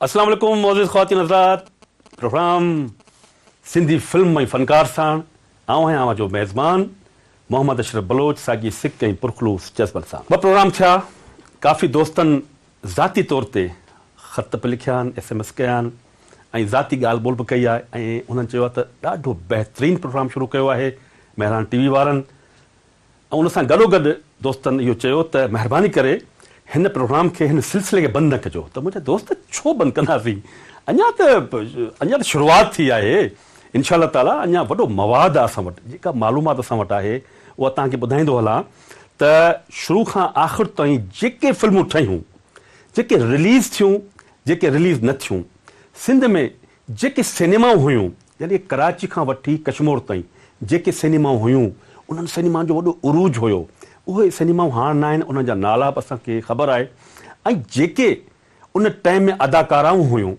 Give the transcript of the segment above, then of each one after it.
اسلام عليڪم معزز خواتين حضرات پروگرام سنڌي فلم ۽ فنڪار ساڻ آئون آهيان اوهان جو ميزبان محمد اشرف بلوچ ساڳي سڪ ۽ پرخلوص جذبن سان ٻه پروگرام ٿيا ڪافي دوستن ذاتي طور تي خط به لکيا آهن، ايس ايم ايس ڪيا آهن ۽ ذاتي ڳالهه ٻولهه به ڪئي آهي ۽ هنن چيو آهي ته ڏاڍو بهترين پروگرام شروع ڪيو آهي مهراڻ ٽي وي وارن ۽ ان سان گڏوگڏ دوستن اهو چيو ته مهرباني ڪري هن پروگرام کي هن سلسلي کي بند نه ڪجو ته منهنجا دوست ڇو بند ڪنداسين اڃا ته اڃا ته شروعات ٿي آهي انشاء الله تعالي اڃا وڏو مواد آهي اسان وٽ جيڪا معلومات اسان وٽ آهي اها توهان کي ٻڌائيندو هلان ته شروع کان آخر تائين جيڪي فلمون ٺهيون، جيڪي رليز ٿيون، جيڪي رليز نه ٿيون، سنڌ ۾ جيڪي سئنيمائون هيون يعني ڪراچي کان وٺي ڪشمور تائين جيڪي سئنيمائون هيون انهن سئنيمائن جو وڏو عروج هيو اهي سئنيمائون هاڻ نه آهن انهن جا نالا به اسان کي خبر آهي ۽ جيڪي ان ٽائيم ۾ اداڪارائون هيون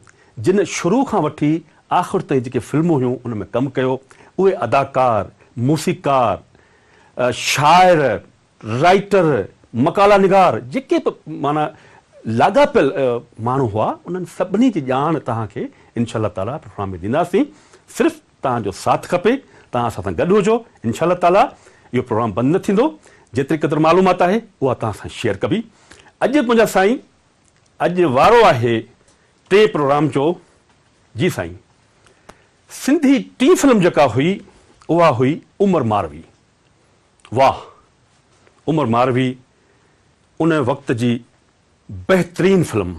جن شروع کان وٺي آخر تائين جيڪي فلمون هيون ان ۾ ڪم ڪيو اهي اداڪار، موسيقار، شاعر، رائيٽر، مقالا نگار جيڪي به معنيٰ لاڳاپيل ماڻهو هئا انهن سڀني جي ڄاڻ توهان کي انشاء الله تعالٰي پروگرام ۾ ڏينداسين صرف توهان جو ساٿ کپي توهان اسان سان گڏ هجو انشاء الله تعالٰي اهو پروگرام بند نه ٿيندو جيتري قدر معلومات آهي اها توهان سان شيئر ڪبي اڄ منهنجا سائين اڄ وارو آهي ٽي پروگرام جو جي سائين سنڌي ٽين فلم جيڪا هئي اها هئي عمر ماروي واهه عمر ماروي ان وقت جي بهترين فلم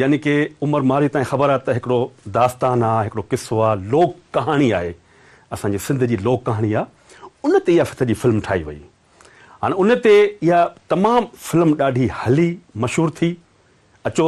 يعني ڪي عمر ماروي تائين خبر آهي ته هڪڙو داستان آهي هڪڙو قصو آهي لوڪ ڪهاڻي آهي اسان جي سنڌ جي لوڪ ڪهاڻي آهي ان تي اها سڄي فلم ٺاهي وئي هاڻي ان تي اها تمام فلم ڏاڍي هلي مشهور ٿي اچو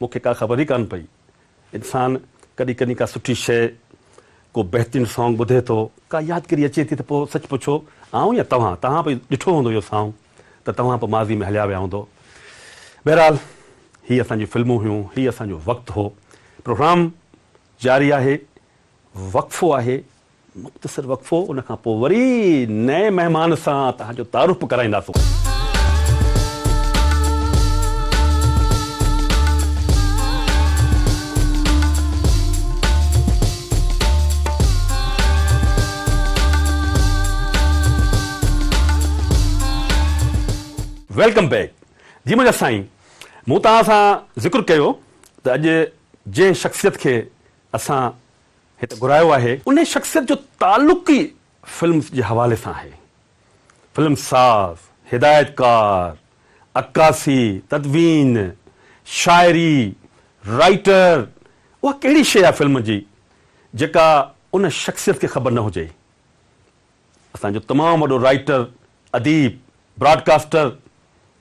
مون کي ڪا خبر ئي ڪانه پئي. انسان ڪڏهن ڪڏهن ڪا سٺي شيء، ڪو بهترين سانگ ٻڌي ٿو، ڪا يادگيري اچي ٿي ته پوء سچ پڇو آئون يا توهان، توهان به ڏٺو هوندو اهو سانگ ته توهان به ماضي ۾ هليا ويا هوندو. بهرحال هي اسان جون فلمون هيون، هي اسان جو وقت هو. پروگرام جاري آهي، وقفو آهي، مختصر وقفو ان کان پوء وري نئين مهمان سان توهان جو تعارف به ڪرائينداسون. ويلڪم بيڪ جي منهنجا سائين مون توهان سان ذڪر ڪيو ته اڄ جنهن شخصيت کي اسان هت گهرايو آهي. انهيء شخصيت جو تعلق ئي فلمز جي حوالي سان آهي. فلم ساز، هدايتڪار، عڪاسي، تدوين، شاعري، رائيٽر، اها ڪهڙي شيء آهي فلم جي جيڪا ان شخصيت کي خبر نه هجي. اسان جو تمام وڏو رائيٽر، اديب، براڊڪاسٽر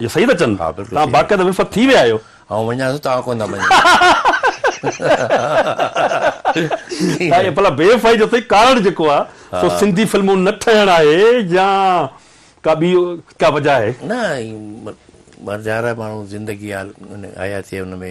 اهو صحيح ٿا چون. توهان باقاعده وفد ٿي ويا آهيو. آئون وڃان ٿو توهان ڪونه مڃيندا. سائين ڀلا بي وفائي جو سائين ڪارڻ جيڪو آ سو سنڌي فلمون نه ٺهڻ آهي يا ڪا ٻي ڪا وجه آهي؟ نه مرجهارا ماڻهو زندگي حياتي ان ۾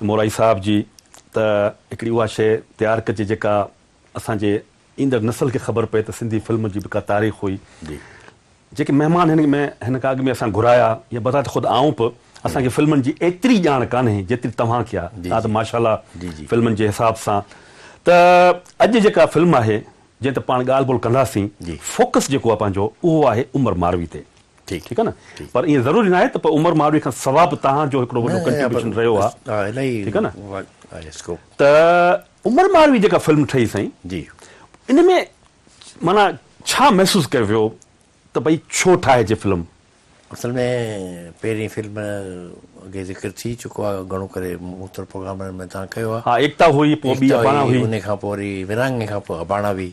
مورائي صاحب جي ته هڪڙي اها شيء تيار ڪجي جيڪا اسان جي ايندڙ نسل کي خبر پئي ته سنڌي فلم جي به ڪا تاريخ هئي جيڪي مهمان هن ۾ هن کان اڳ ۾ اسان گهرايا يا بذات خود آئون به اسان کي فلمن جي ايتري ڄاڻ ڪانهي جيتري توهان کي آهي تان ته ماشاءالله فلمن جي حساب سان ته اڄ جيڪا فلم آهي جنهن تي پاڻ ڳالهه ٻولهه ڪنداسين فوڪس جيڪو آهي پنهنجو اهو آهي عمر ماروي تي ٺيڪ آ نه پر ائين ضروري ناهي ته پوء عمر ماڙوي کان سوا به توهان جو هڪڙو وڏو ڪنٽريبيوشن رهيو آ ٺيڪ آ نه ته عمر ماڙوي جيڪا فلم ٺهي سائين جي ان ۾ معنيٰ ڇا محسوس ڪيو ويو ته ڀئي ڇو ٺاهجي فلم؟ اصل ۾ پهرين فلم اڳي ذڪر ٿي چڪو آ گهڻو ڪري مختلف پروگرامن ۾ توهان ڪيو آ ها ايڪتا هئي پوء ٻي اباڻا هئي ان کان پوء ورهاڱي کان پوء اباڻا هئي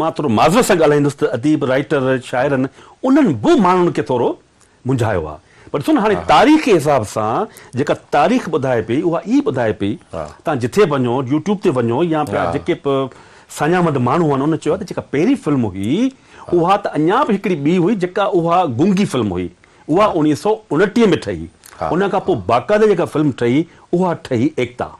مان ٿورو معذرت سان ڳالهائيندس ته اديب، رائيٽر، شاعرن انهن به ماڻهن کي ٿورو منجهايو آهي. پر ڏسو نه هاڻي تاريخ جي حساب سان جيڪا تاريخ ٻڌائي پئي اها ئي ٻڌائي پئي. تان جٿي به وڃو، يوٽيوب تي وڃو يا ٻيا جيڪي به ساڃاهمند ماڻهو آهن انهن چيو آهي ته جيڪا پهرين فلم هئي اها ته اڃا به هڪڙي ٻي هئي جيڪا اها گونگي فلم هئي اها اوڻيهه سؤ اڻٽيهه ۾ ٺهي ان کان پوء باقاعده جيڪا فلم ٺهي اها ٺهي ايڪتا.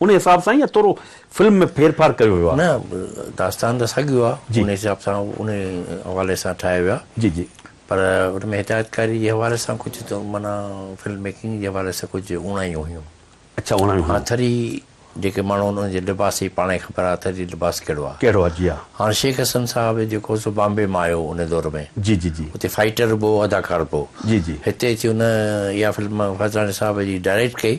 ان حساب سان يا ٿورو فلم ۾ ڦير ڦار ڪيو ويو آهي؟ نه داستان ته ساڳيو آهي جي ان حساب سان ان حوالي سان ٺاهيو ويو آهي جي جي. پر ان ۾ هدايتڪاري جي حوالي سان ڪجهه ته معنيٰ فلم ميڪنگ جي حوالي سان ڪجهه اوڻايون هيون. اڇا اوڻايون هيون. آٿري جيڪي ماڻهو آهن ان جي لباس جي پاڻ کي خبر آهي آٿري جي لباس ڪهڙو آهي. ڪهڙو آهي جي ها. هاڻ شيخ حسن صاحب جيڪو سو بامبي مان آيو ان دور ۾ جي جي جي. اتي فائيٽر به هو اداڪار به هو جي جي. هتي اچي ان اها فلم فيضاڻي صاحب جي ڊائريڪٽ ڪئي.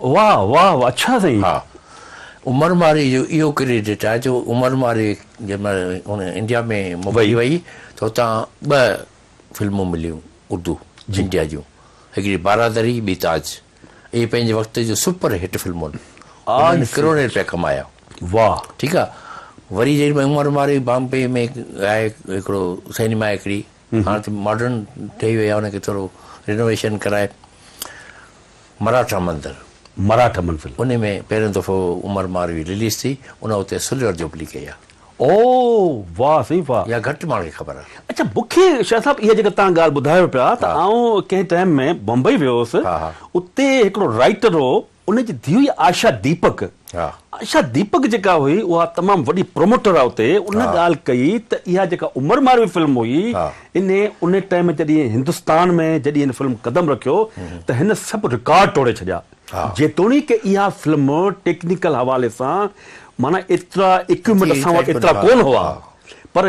واھ واھ اڇا سائين. ها عمر مارئي جو اهو ڪريڊٽ آهي جو عمر مارئي جنهن مهل هن انڊيا ۾ موڪلي وئي ته هتان ٻه فلمون مليون اردو انڊيا جون هڪڙي بارا دري ٻي تاج اهي پنهنجي وقت جون سپر هٽ فلمون انهن ڪروڙين رپيا ڪمايا واھ ٺيڪ آهي وري جيڏي مهل عمر مارئي بامبي ۾ ڳائي هڪڙو سئنيما هڪڙي هاڻ ته ماڊرن ٺهي وئي آهي ان کي ٿورو رينوويشن ڪرائي مراٺا منزل مراٺا منزل ان ۾ پهريون دفعو عمر ماروي رليز ٿي ان وقت اهي سلور جوبلي ڪئي آهي. او واه سائين واه. يا گهٽ ماڻهن کي خبر آهي. اڇا مون کي شاهه صاحب اها جيڪا توهان ڳالهه ٻڌايو پيا ته آئون ڪنهن ٽائيم ۾ بمبئي ويو هوس اتي هڪڙو رائيٽر هو ان جي ڌيء هئي آشا ديپڪ. آشا ديپڪ جيڪا هئي اها تمام وڏي پروموٽر آهي اتي. ان ڳالهه ڪئي ته اها جيڪا عمر ماروي فلم هئي ان ان ٽائيم جڏهن هندستان ۾ جڏهن هن فلم قدم رکيو ته هن سڀ رڪارڊ ٽوڙي ڇڏيا. جيتوڻيڪ اها فلم ٽيڪنيڪل حوالي سان معنيٰ ايترا اڪيوپمينٽ اسان وٽ ايترا ڪونه هئا پر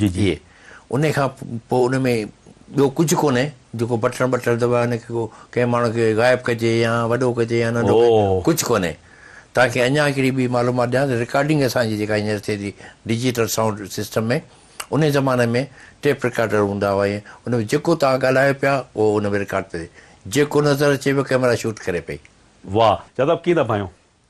جي جي انهي کان پوء ان ۾ ٻيو ڪجهه ڪونهي جيڪو بٽڻ ٻٽڻ دٻائي ان کي ڪو ڪنهن ماڻهو کي غائب ڪجي يا وڏو ڪجي يا ننڍو ڪجي ڪجهه ڪونهي توهان کي اڃان هڪڙي ٻي معلومات ڏيان ته رڪارڊنگ اسان جي جيڪا هينئر ٿئي ٿي ڊجيٽل سائونڊ سسٽم ۾ انهي زماني ۾ ٽيپ رڪارڊر هوندا هئا ۽ ان ۾ جيڪو توهان ڳالهايو پيا اهو ان ۾ رڪارڊ پيو ٿئي جيڪو نظر اچي پيو ڪئميرا شوٽ ڪري پئي. واھ جادو ڪيئن ٿا ڀانيو.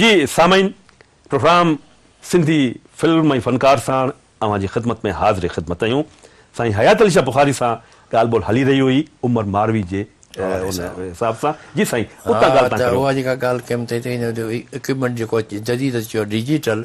جي سامعين پروگرام سنڌي فلم ۽ فنڪار ساڻ اوهان جي خدمت ۾ حاضر خدمت اهيون سائين حيات علي شاھ بخاري سان ڳالھ ٻولھ هلي رهي هئي عمر ماروي جي ان حساب سان جي سائين اتان ڳالھ تان ڪريو. اها جيڪا ڳالھ ڪيم تنهن تي اڪيوپمينٽ جيڪو جديد اچي ويو آهي ڊجيٽل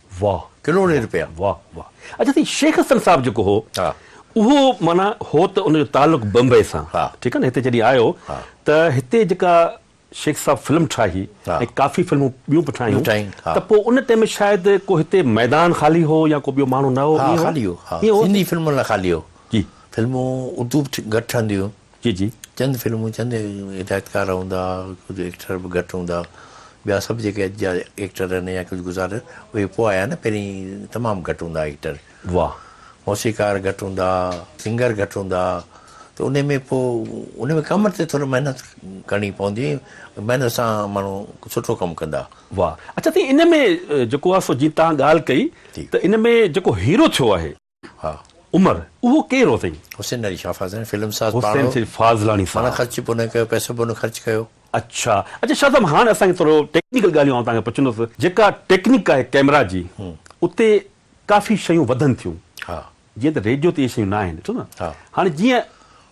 واھ ڪروڙين رپيا واھ واھ اچا سائين شيخ حسن صاحب جيڪو هو اهو معنيٰ هو ته ان جو تعلق بمبئي سان ٺيڪ آهي نه هتي جڏهن آيو ته هتي جيڪا شيخ صاحب فلم ٺاهي ۽ ڪافي فلمون ٻيون به ٺاهيون ته پوء ان ٽائيم ۾ شايد ڪو هتي ميدان خالي هو يا ڪو ٻيو ماڻهو نه هو ها خالي هو ها سنڌي فلمن لاء خالي هو جي فلمون اردو به گهٽ ٺهنديون هيون جي جي. چند فلمون چند هدايتڪار هوندا ڪجهه ايڪٽر به گهٽ هوندا ٻيا سڀ جيڪي اڄ جا ايڪٽر آهن يا ڪجهه گذار اهي پوء آيا نه پهرين تمام گهٽ هوندا ايڪٽر واهه. موسيقار گهٽ هوندا سنگر گهٽ هوندا ته انهي ۾ پوء انهي ۾ ڪم تي ٿورو محنت ڪرڻي پوندي ۽ محنت سان ماڻهو سٺو ڪم ڪندا. واهه اچا سائين انهي ۾ جيڪو آهي سو جيئن توهان ڳالهه ڪئي ته انهي ۾ جيڪو هيرو ٿيو آهي. ها عمر اهو ڪير هو سائين؟ حسين علي شاهه فاضلاڻي فلم ساز پاڻ حسين هو. سيد فاضلاڻي پاڻ صاحب. خرچ به هن ڪيو پئسو به هن خرچ ڪيو. اڇا اڇا شاهه صاحب هاڻ اسان کي ٿورو ٽيڪنيڪل ڳالهيون آئون توهان کي پڇندس جيڪا ٽيڪنيڪ آهي ڪيمرا جي اتي ڪافي شيون وڌن ٿيون ها جيئن ته ريڊيو تي اهي شيون نه آهن ٺيڪ ها هاڻ جيئن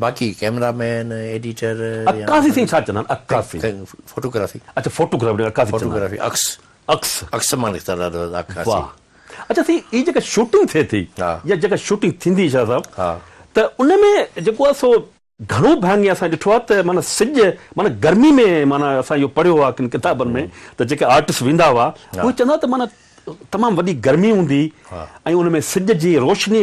باقي ڪيمرا مين ايڊيٽر عڪاسي سائين ڇا چوندا آهن عڪاسي فوٽوگرافي اڇا فوٽوگرافي عڪاسي چوندا فوٽوگرافي عڪس عڪس عڪس مان نڪتل آهي عڪاسي واھ اڇا سائين هي جيڪا شوٽنگ ٿئي ٿي يا جيڪا شوٽنگ ٿيندي شاھ صاحب ها ته ان ۾ جيڪو آهي سو گهڻو ڀاڱي اسان ڏٺو آهي ته معنيٰ سج معنيٰ گرمي ۾ معنيٰ اسان اهو پڙهيو آهي ڪن ڪتابن ۾ ته جيڪي آرٽس ويندا هئا اهي چوندا ته معنيٰ تمام وڏي گرمي هوندي ۽ ان ۾ سج جي روشني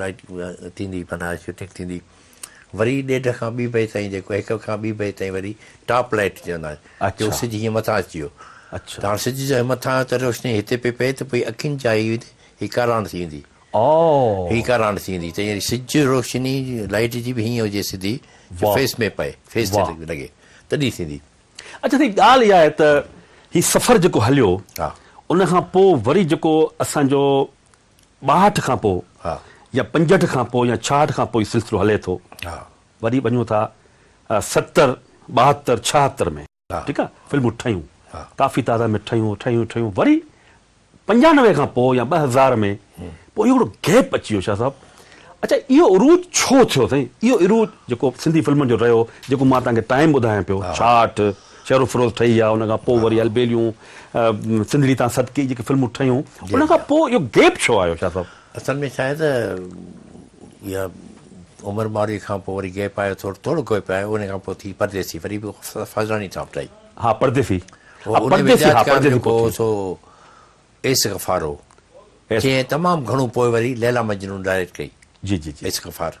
لائيٽ ٿيندي پنه آهي شوٽنگ ٿيندي وري ڏيڍ کان ٻي بجي تائين جيڪو هڪ کان ٻي بجي تائين وري ٽاپ لائيٽ چوندا آهن جو سج هيئن مٿان اچي ويو ته هاڻ سج جا مٿان آهيو ته روشني هتي پئي پئي ته پوء اکين جا هي هي ڪاراڻ ٿي ويندي هي ڪاراڻ ٿي ويندي ته يعني سج روشني لائيٽ جي به هيئن هجي سڌي جو فيس ۾ پئي فيس تي لڳي تڏهن ٿيندي. اچا سائين ڳالهه اها آهي ته هي سفر جيڪو هليو ان کان پوء وري جيڪو اسان جو ٻاهٺ کان پوء يا پنجهٺ کان پوء يا ڇاهٺ کان پوء هي سلسلو هلي ٿو. وري وڃون ٿا ستر، ٻاهتر، ڇاهتر ۾ ٺيڪ آهي فلمون ٺهيون ڪافي تعداد ۾ ٺهيون ٺهيون ٺهيون وري پنجانوي کان پوء يا ٻه هزار ۾ پوء اهو هڪڙو گيپ اچي ويو شاهه صاحب اڇا اهو عروج ڇو ٿيو سائين اهو عروج جيڪو سنڌي فلمن جو رهيو جيڪو مان توهان کي ٽائيم ٻڌايان پيو ڇاهٺ، شهروفروز ٺهي يا ان کان پوء وري البيليون سنڌڙي تان صدقي جيڪي فلمون ٺهيون ان کان پوء اهو گيپ ڇو آيو شاهه صاحب؟ اصل ۾ ڇا آهي ته اها عمر مارئي کان پوء وري گيپ آيو ٿورو ٿورو گيپ آيو ان کان پوء ٿي پرديسي وري به فضلاني تان ٺهي ها پرديسي ها پرديسي ها پرديسي پوء سو ايس غفار هو جنهن تمام گهڻو پوء وري ليلا مجنون ڊائريڪٽ ڪئي جي جي جي ايس غفار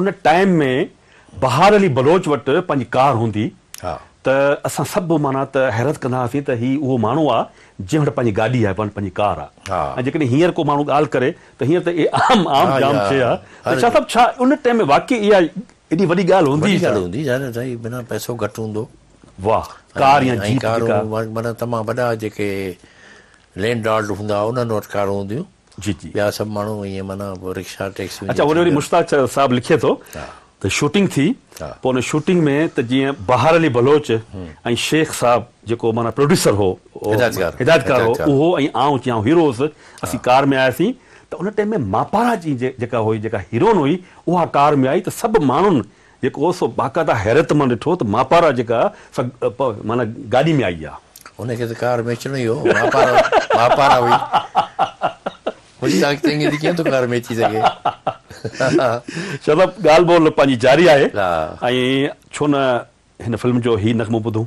ان ٽائيم ۾ بهار علي بلوچ وٽ پنهنجي ڪار هوندي ته اسان سڀ معنيٰ ته حيرت ڪندا هئاسين ته هي اهو ماڻهو آ جنهن وٽ پنهنجي گاڏي آهي پنهنجي ڪار آ ۽ جيڪڏهن هينئر ڪو ماڻهو ڳالهه ڪري ته هينئر ته اهي عام عام جام شيء آ ته شاهه صاحب ڇا ان ٽائيم ۾ واقعي اها ايڏي وڏي ڳالهه هوندي وڏي ڳالهه هوندي ظاهر آ سائين بنا پئسو گهٽ هوندو واهه ڪار يا جيپ ڪارون معنيٰ تمام وڏا جيڪي لينڊ لارڊ هوندا انهن وٽ ڪارون هونديون جي جي. ٻيا سڀ ماڻهو ائين معنيٰ رڪشا ٽيڪسيون اچا جيئن هن وري ٿينديون مشتاق ڇا صاحب لکي ٿو آهن. ها. ته شوٽنگ ٿي ها. پوء ان شوٽنگ ۾ ته جيئن بهار علي بلوچ ۽ شيخ صاحب جيڪو معنيٰ پروڊيوسر هو او هدايتڪار. هدايتڪار هو هدايتڪار. اهو ۽ آئون چيان هيرو هوس اسين ڪار ۾ آياسين ته ان ٽيم ۾ ماپارا جي جي جيڪا هئي جيڪا هيروئن هئي اها ڪار ۾ آئي ته سڀ ماڻهن جيڪو سو باقاعده حيرت مان ڏٺو ته ماپارا جيڪا سا پ معنيٰ گاڏي ۾ آئي آ. ان کي ته ڪار ۾ اچڻو ئي هو، ماپارا ماپارا هئي. مشتاق چنگي ٿي ڪيئن ٿو ڪار ۾ اچي سگهي. شاهه صاحب ڳالهه ٻولهه پنهنجي جاري آهي ۽ ڇو نه هن فلم جو هي نغمو ٻڌون.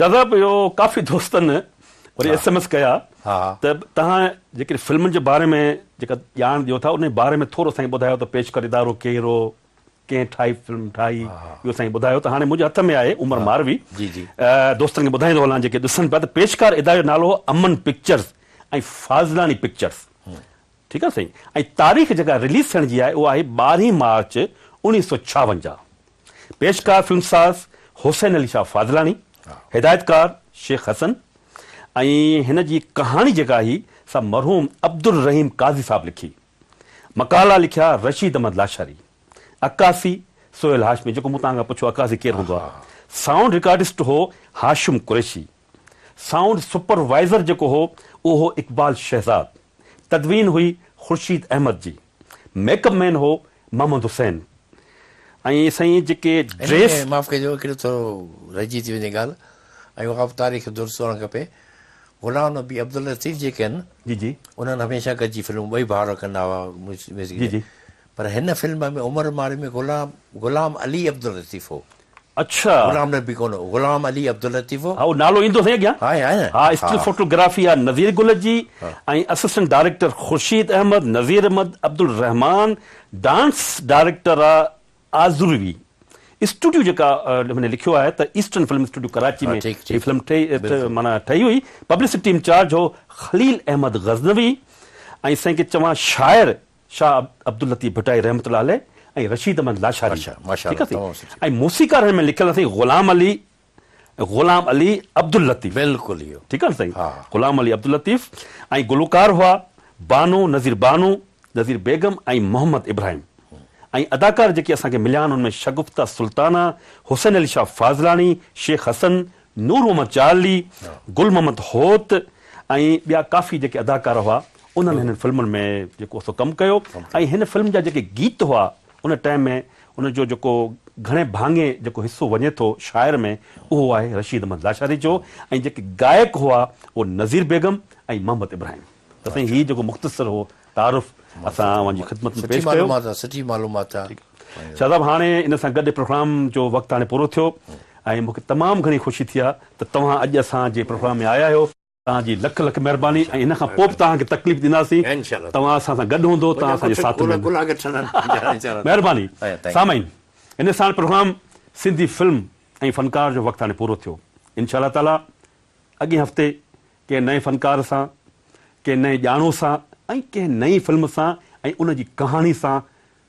دادا اهو ڪافي دوستن وري ايس ايم ايس ڪيا ته توهان جيڪڏهن فلمن جي باري ۾ جيڪا ڄاڻ ڏيو ٿا ان جي باري ۾ ٿورو سائين ٻڌايو ته پيش ڪردارو ڪير هو ڪنهن ٺاهي فلم ٺاهي اهو سائين ٻڌايو ته هاڻي منهنجي هٿ ۾ آهي عمر ماروي دوستن کي ٻڌائيندو هلان جيڪي ڏسن پيا ته پيشڪار اداري جو نالو هو امن پڪچرز ۽ فاضلاڻي پڪچرز ٺيڪ آهي سائين ۽ تاريخ جيڪا رليز ٿيڻ جي آهي اها آهي ٻارهين مارچ اڻويهه سؤ ڇاونجاهه پيشڪار فلم ساز حسين علي شاهه فاضلاڻي هدايتڪار شيخ حسن ۽ هن جي ڪهاڻي جيڪا آهي سا مرحوم عبدالرحيم قاضي صاحب لکي مقالا لکيا رشيد احمد لاشاري عڪاسي سهيل هاشمي جيڪو مون توهان کان پڇيو عڪاسي ڪير هوندو آهي سائونڊ رڪارڊسٽ هو Hashim Qureshi sound supervisor جيڪو هو اهو هو اقبال شهزاد، تدوين هئي خورشيد احمد جي، ميڪ اپ مين هو محمد حسين ۽ سائين جيڪي هن ۾ ڊريس. معاف ڪجو هڪڙي ٿورو رهجي ٿي وڃي ڳالهه ۽ اها به تاريخ درست هئڻ کپي غلام نبي عبداللطيف جيڪي آهن جي جي. انهن هميشه گڏجي فلمون ٻئي ڀائر ڪندا هئا ميوزڪ جي جي. پر هن فلم ۾ عمر مارئي ۾ غلام غلام علي عبداللطيف هو. اڇا. غلام نبي ڪونه هو غلام علي عبداللطيف هو. هاو نالو ايندو سائين اڳيان. آهي آهي نه. ها اسٽل فوٽو گرافي آهي نذير گل جي ۽ assistant director Khurshid Ahmed Nazir Ahmed Abdulrehman dance director آ آذروي اسٽوڊيو جيڪا هن لکيو آهي ته ايسٽرن فلم اسٽوڊيو ڪراچي ۾ هي فلم ٺهي معنيٰ ٺهي هئي پبلسٽي انچارج هو خليل احمد غزنوي ۽ سائين ڪي چوان شاعر شاهه عبداللطيف ڀٽائي رحمة الله عليه ۽ رشيد احمد لاشاري ٺيڪ آهي ۽ موسيقار هن ۾ لکيل آهي سائين غلام علي غلام علي عبداللطيف ٺيڪ آهي نه سائين غلام علي عبداللطيف ۽ گلوڪار هئا بانو نظير بانو نظير بيگم ۽ محمد ابراهيم ۽ اداڪار جيڪي اسان کي مليا آهن ان ۾ شگفته سلطانه حسين علي شاهه فاضلاڻي شيخ حسن نور محمد چارلي، گل محمد هوت ۽ ٻيا ڪافي جيڪي اداڪار هئا انهن هنن فلمن ۾ جيڪو سو ڪم ڪيو ۽ هن فلم جا جيڪي گيت هئا ان ٽائيم ۾ ان جو جيڪو گهڻي ڀاڱي جيڪو حصو وڃي ٿو شاعر ۾ اهو آهي رشيد احمد لاشاري جو ۽ جيڪي گائڪ هئا اهو نظير بيگم ۽ محمد ابراهيم ته سائين هي جيڪو مختصر هو تعارف اسان اوهان جي خدمت ۾ پيش ڪيو سٺي معلومات آهي سٺي معلومات آهي. شاهه صاحب هاڻي ان سان گڏ پروگرام جو وقت هاڻي پورو ٿيو ۽ مونکي تمام گهڻي خوشي ٿي آ ته توهان اڄ اسان جي پروگرام ۾ آيا آهيو توهان جي لک لک مهرباني ۽ هن کان پوء به توهان کي تڪليف ڏينداسين توهان اسان سان گڏ هوندو توهان اسان جي ساٿ ۾ به مهرباني سامعين ان ساڻ پروگرام سنڌي فلم ۽ فنڪار جو وقت هاڻي پورو ٿيو انشاء الله تعالي اڳئين هفتي ڪنهن نئين فنڪار سان ڪنهن نئين ڄاڻو سان ۽ ڪنهن نئين فلم سان ۽ ان جي ڪهاڻي سان